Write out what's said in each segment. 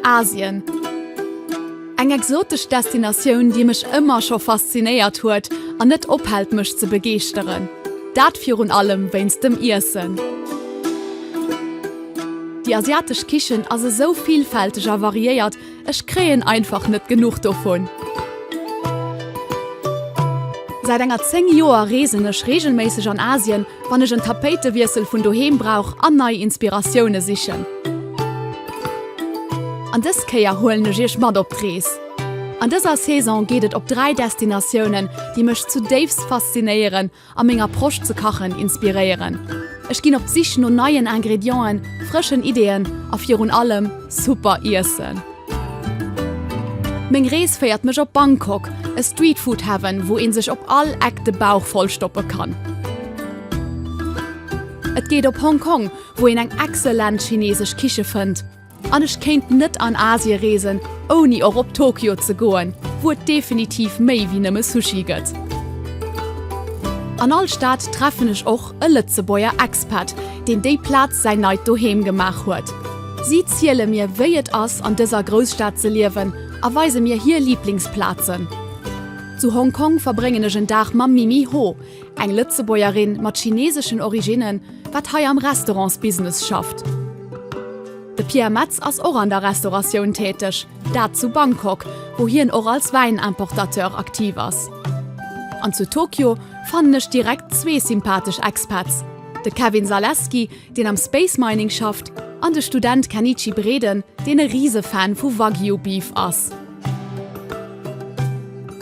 Asien. Eng exotesch Destinatioun, déi mech ëmmer scho faszinéiert huet an net ophält mech ze begeeschteren. Dat virun allem wéinst dem Iessen. Déi asiatesch Kichen ass esou villfälteg a variéiert. Ech kréien einfach net genuch dovun! Säit enger 10 Joer reesen ech regelméisseg an Asien, wann ech en Tapéitewiessel vun doheem brauch an nei Inspiratioune sichen. An dës Kéier huelen ech iech mat op d'Rees. An dëser Saison geet et op 3 Destinatiounen, déi mech zudéifst faszinéieren a meng Approche ze kachen inspiréieren. Ech ginn op d'Sich no neien Ingredienten, frëschen Ideeën a virun allem super Iessen. Meng Rees féiert mech op Bangkok, e Streetfood Heaven, wou een sech op all Eck de Bauch voll stoppe kann. Et geet op Hong Kong, wou een eng excellent chinesesch Kiche fënnt. An ech kéint net an Asie reesen ouni och op Tokio ze goen, wou et definitiv méi wéi nëmme Sushi gëtt. An all Stad treffen ech och e Lëtzebuerger Expat, deen déi Plaz säin neit Doheem gemaach huet. Si ziele mir wéi et ass an dëser Grousstad ze liewen a weise mir hir Liblingsplazen. Zu Hong Kong verbréngen ech en Dag mam Mimi Ho, eng Lëtzebuergerin mat chineseschen Originnen, Wat hei am Restaurantsbusiness schafft. De Pierre Metz ass och an der Restauratioun täteg, dat zu Bangkok, wou hien och als Wäin-Importateur aktiv ass. An zu Tokio fannen ech direkt zwee sympathesch Expats, de Kevin Zaleski, deen am Space Mining schafft, an de Student Kenichi Breden, deen e Rise-Fan vu Wagyu Beef ass.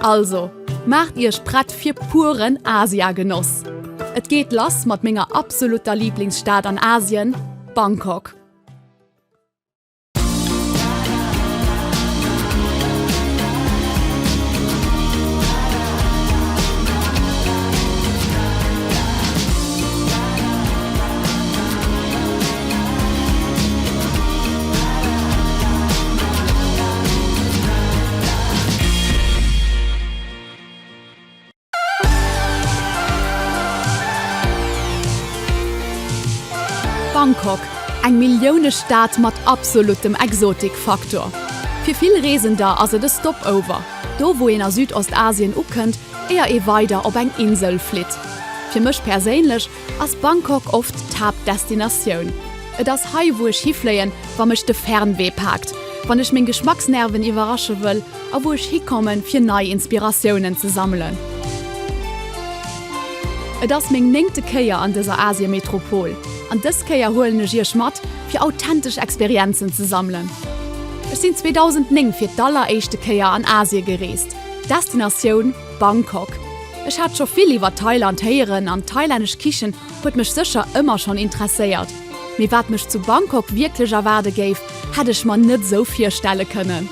Also, maacht Iech prett fir puren Asia-Genoss! Et geet lass mat menger absolutter Lieblingsstad an Asien, Bangkok. Bangkok, eng Milliounestad mat absolutem Exotik-Faktor. Fir vill Reesender ass et e Stopover, do wou een a Südostasien ukënnt, éier ee weider op eng Insel flitt. Fir mech perséinlech Ass Bangkok oft d'Haaptdestinatioun? Et ass hei, wou ech hifléien, wa mech de Fernwee paakt, wann ech meng Geschmacksnerven iwwerrasche wëll a wou ech hikommen, fir nei Inspiratiounen ze sammelen. Et ass meng néngte Kéier an dëser Asiemetropol an dës Kéier huelen ech Iech mat, fir authentesch Experienzen ze sammelen. Ech sinn 2009 fir d'aller éischte Kéier an Asie gereest, d'Destinatioun, Bangkok, Ech hat scho vill iwwer Thailand héieren an d'thailännesch Kichen huet mech sécher ëmmer schonn interesséiert, mee wat mech zu Bangkok wierklech erwaarde géif, hätt ech mer net esou virstelle kënnen.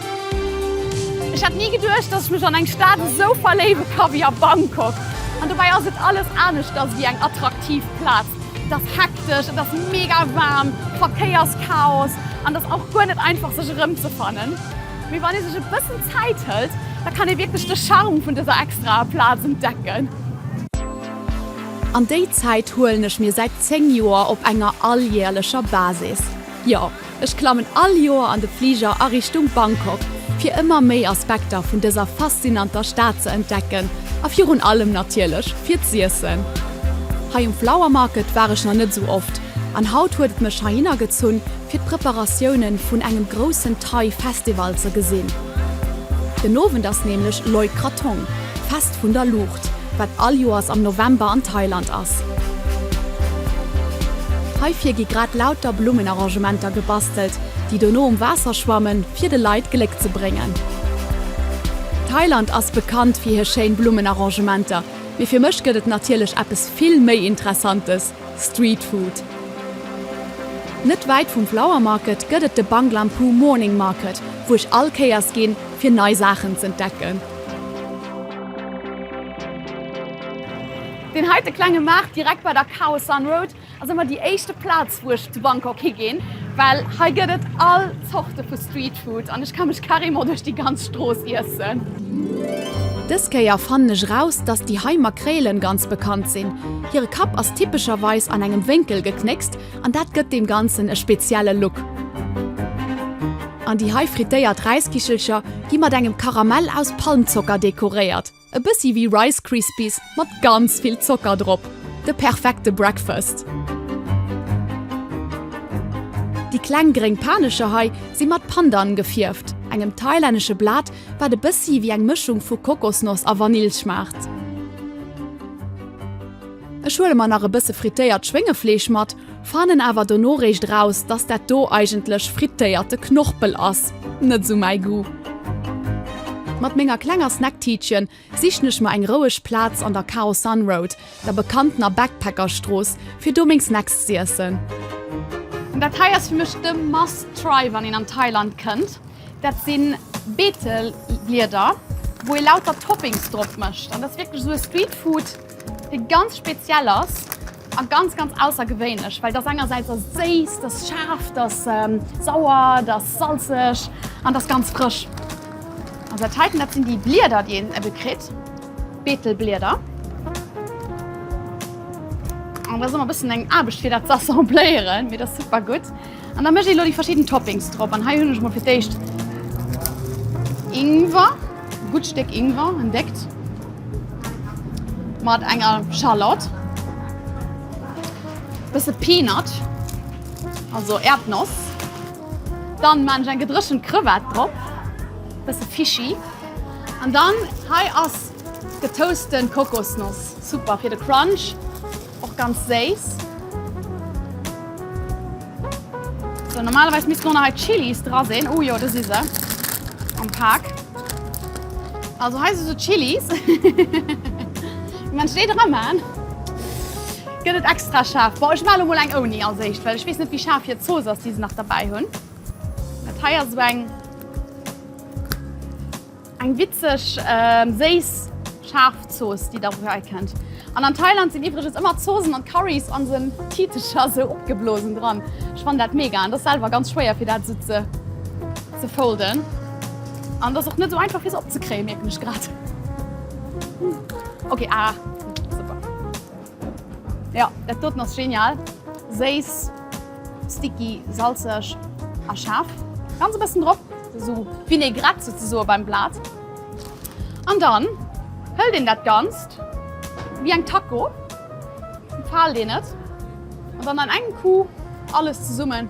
Ech hätt ni geduecht, dass ech mech an eng Stad esou verléiwe ka wéi a Bangkok. An dobäi ass et alles aneschters ewéi eng attraktiv Plaz. Et ass hektesch, et ass mega waarm, Verkéierschaos an et ass och guer net einfach sech erëmzefannen. Mee wann ee sech e bëssen Zäit hëlt, da kann ee wierklech de Charme vun dëser extraer Plaz entdecken. An déi Zäit huelen ech mir säit 10 Joer op enger alljäerlecher Basis. Jo, ech klammen all Joer an de Fliger a Richtung Bangkok, fir ëmmer méi Aspekter vun dëser faszinanter Stad ze entdecken a virun allem natierlech fir z'iessen. Hei um Flower Market war ech nach net esou oft an haut huet et mech heihinner gezunn, fir d'Preparatiounen vun engem groussen Thai Festival ze gesinn. Den Owend ass nämlech Loi Krathong, Fest vun der Luucht, wat all Joers am November an Thailand ass. Heifir gi grad lauter Blummenarrangementer gebastelt, déi dono um Waasser schwammen, fir de Leit Gléck ze bréngen. Thailand ass bekannt fir hir schéin Blummenarrangementer, mee fir mech gëtt et natierlech eppes vill méi Interessantes, Street Food Net wäit vum Flower Market gëtt et de Banglam Phu Morning Market, wou ech all Kéiers ginn, fir nei Saachen z'entdecken. Deen heite klenge Maart direkt bei der Khao San Road ass ëmmer déi éischte Plaz, wou ech zu Bangkok higinn, well hei gëtt et all Zorte vu Street. Streetfood an ech ka mech carrément duerch déi ganz Strooss iessen. Dës Kéier fannen ech raus, dass déi hei Makréilen ganz bekannt sinn. Hire Kapp ass typescherweis an engem Wénkel geknéckst an dat gëtt deem Ganzen e spezielle Look. An déi hei frittéiert Räiskichelcher gi mat engem Karamell aus Palmzocker dekoréiert. E bëssi wéi Rice Krispies mat ganz vill Zocker drop. De perfekte Breakfast! Déi kleng gréng Panescher hei si mat Pandan gefierft, engem thailännesche Blat, wat e bëssi wéi eng Mëschung vu Kokosnoss a Vanill schmaacht. Ech huele mer nach e bësse frittéiert Schwéngefleesch mat. Fannen awer dono réischt raus dass dat do eigentlech frittéierte Knorpel ass, net sou mäi Goût. Mat menger klenger Snacktiitchen sichen ech mer eng roueg Plaatz an der Khao San Road, der bekanntener Backpackersstrooss, fir do meng Snacks z'iessen. Dat hei ass fir mech de must try wann een an Thailand kënnt, dat sinn Beeteblieder wou ee lauter Toppings drop mëscht an dat ass wierklech sou e Street Food dee ganz speziell ass A ganz, ganz aussergewéinlech, well dass engersäits ass et séiss, et ass schaarf, et ass sauer, et ass salzeg an et ass ganz frësch. An dat heiten, dat sinn déi Blieder, déi een ebe kritt, Beetelblieder. An et ass ëmmer e bëssen eng Aarbecht, fir dat ze assembléieren, mee et ass super gutt. An da mëscht ee lo déi verschidden Toppings drop. An hei hunn ech mol fir d'éischt Ingwer, e gutt Stéck Ingwer, en déckt, mat enger Schalott, e bësse Peanut, also Äerdnoss. Dann man ech eng gedréchent Crevette drop, e bësse Fischi. An dann hei ass getoasten Kokosnoss, super fir de Crunch. Och ganz séiss. Sou, normalerweis missten och nach hei d'Chilis dra sinn. Oh jo, do si se am Pak. Also hei si sou d'Chilis. Wie mengt déi dra man, gëtt et extra schaarf. Bon, ech man elo mol eng ouni als éischt, well ech weess net, wéi schaarf hir Zooss ass, déi se nach derbäi hunn. Dat hei ass sou eng. Eng witzeg, séiss, schaarf Zooss, déi der wuel kennt. An an Thailand sinn iwwregens ëmmer Zoossen an Currys an esou Titecher esou opgeblosen dran. Ech fannen dat mega. Et ass selwer ganz schwéier fir dat esou ze ze folden. An et ass och net esou einfach fir se opzekréien, mierken ech grad. Ok, ah super. Jo, dat doten ass genial! Séiss, sticky, salzeg a schaarf. Ganz e bëssen drop, esou vinaigrette souzesoe beim Blat. An dann hëlt een dat Ganzt wéi eng Taco, faalt een et an dann an engem Coup alles zesummen.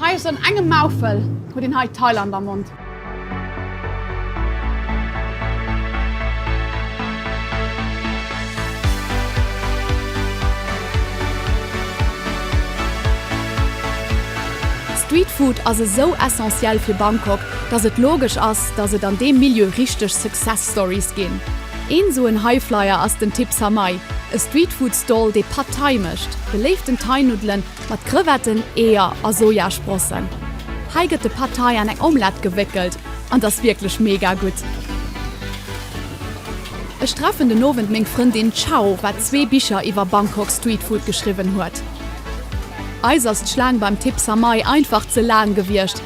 Hei ass an engem Maufel huet een hei Thailand am Mond. Street Food ass esou essentiel fir Bangkok, dass et logesch ass, dass et an deem Milieu richteg Success Stories ginn. Een esou en Highflyer ass den Tip Samai, e Street Food Stall dee Pad Thai mécht, beléiften Thai Nuddelen, Mat Crevetten, Eeër a Sojasprossen. Hei gëtt de Pad Thai an eng Omelette gewéckelt an ass wierklech mega gutt. Ech treffen den Owend meng Frëndin Chao, wat zwee Bicher iwwer Bangkok Street Food geschriwwen huet. Eis ass d'Schlaang beim Thip Samai einfach ze laang gewiescht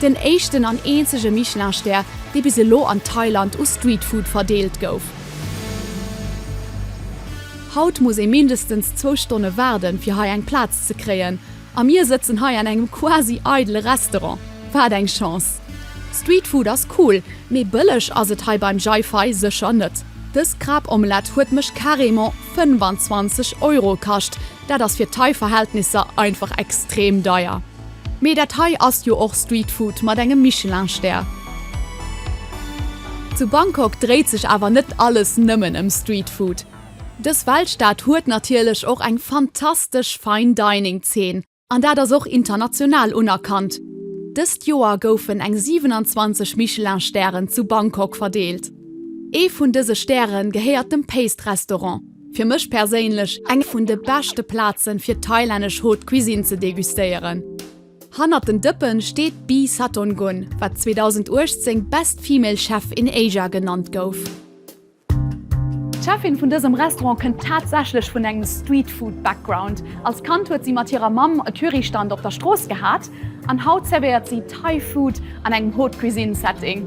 Den éischten an eenzege Michelin-Stär, dee bis elo an Thailand u Streetfood verdeelt gouf. Haut muss ee mindestens zwou Stonne waarden, fir hei eng Plaz ze kréien. A mir sëtzen hei an engem quasi eidele Restaurant. Wat eng Chance! Streetfood ass cool, mee bëlleg ass et hei beim Jai Fai sécher net. Dës Krabomelett huet mech carrément 25 Euro kascht. Dat ass fir Thai-Verhältnisser einfach extrem deier. Mee dat hei ass jo och Street Food mat engem Michelin Stär. Zu Bangkok dréit sech awer net alles nëmmen ëm Street Food. Dës Weltstad huet natierlech och eng fantastesch Fine Dining Zeen an dat ass och international unerkannt. Dëst Joer goufen eng 27 Michelin Stären zu Bangkok verdeelt. Ee vun dëse Stäre gehéiert dem Paste Restaurant. Fir mech perséinlech eng vun de beschte Plazen fir thailännesch Haute Cuisine ze degustéieren. Hannert den Dëppen steet d'Bee Satongun, wat 2018 Best Female Chef in Asia genannt gouf. D'Cheffin vun dësem Restaurant kënnt tatsächlech vun engem Street Food Background. Als Kand huet si mat hirer Mamm e Currystand op der Strooss gehat an haut zervéiert si Thai Food an engem Haute Cuisine Setting.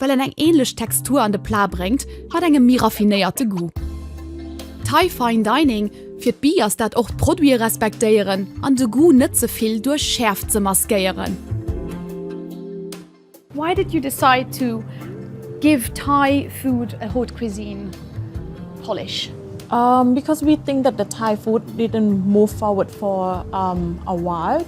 Well en eng ähnlech Textur an de Plat bréngt, mat engem méi raffinéierte Goût. Thai Fine Dining, Fir d'Bi ass dat och d'Produite respektéieren an de Goût net ze vill duerch Schäerft ze maskéieren. Why did you decide to give Thai food a haute cuisine polish? Because we think that the Thai food didn't move forward for a while.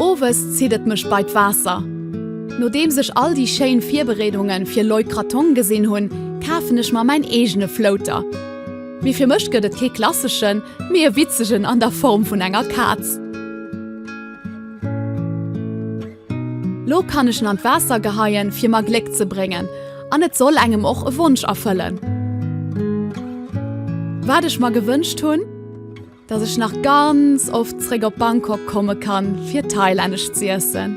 Owes zitt et mech bei d'Waasser. Nodeems ech all déi schéin Virbereedungen fir Loi Krathong gesinn hunn, kafen ech mer mäin eegene Flouter. Mee fir mech gëtt et kee klasseschen, mee e witzegen an der Form vun enger Kaz. Lo kann ech en an d'Waasser geheien, fir mer Gléck ze bréngen, an et soll engem och e Wonsch erfëllen. Wat ech mer gewënscht hunn, dass ech nach ganz oft zréck op Bangkok komme kann, fir thailännesch z'iessen.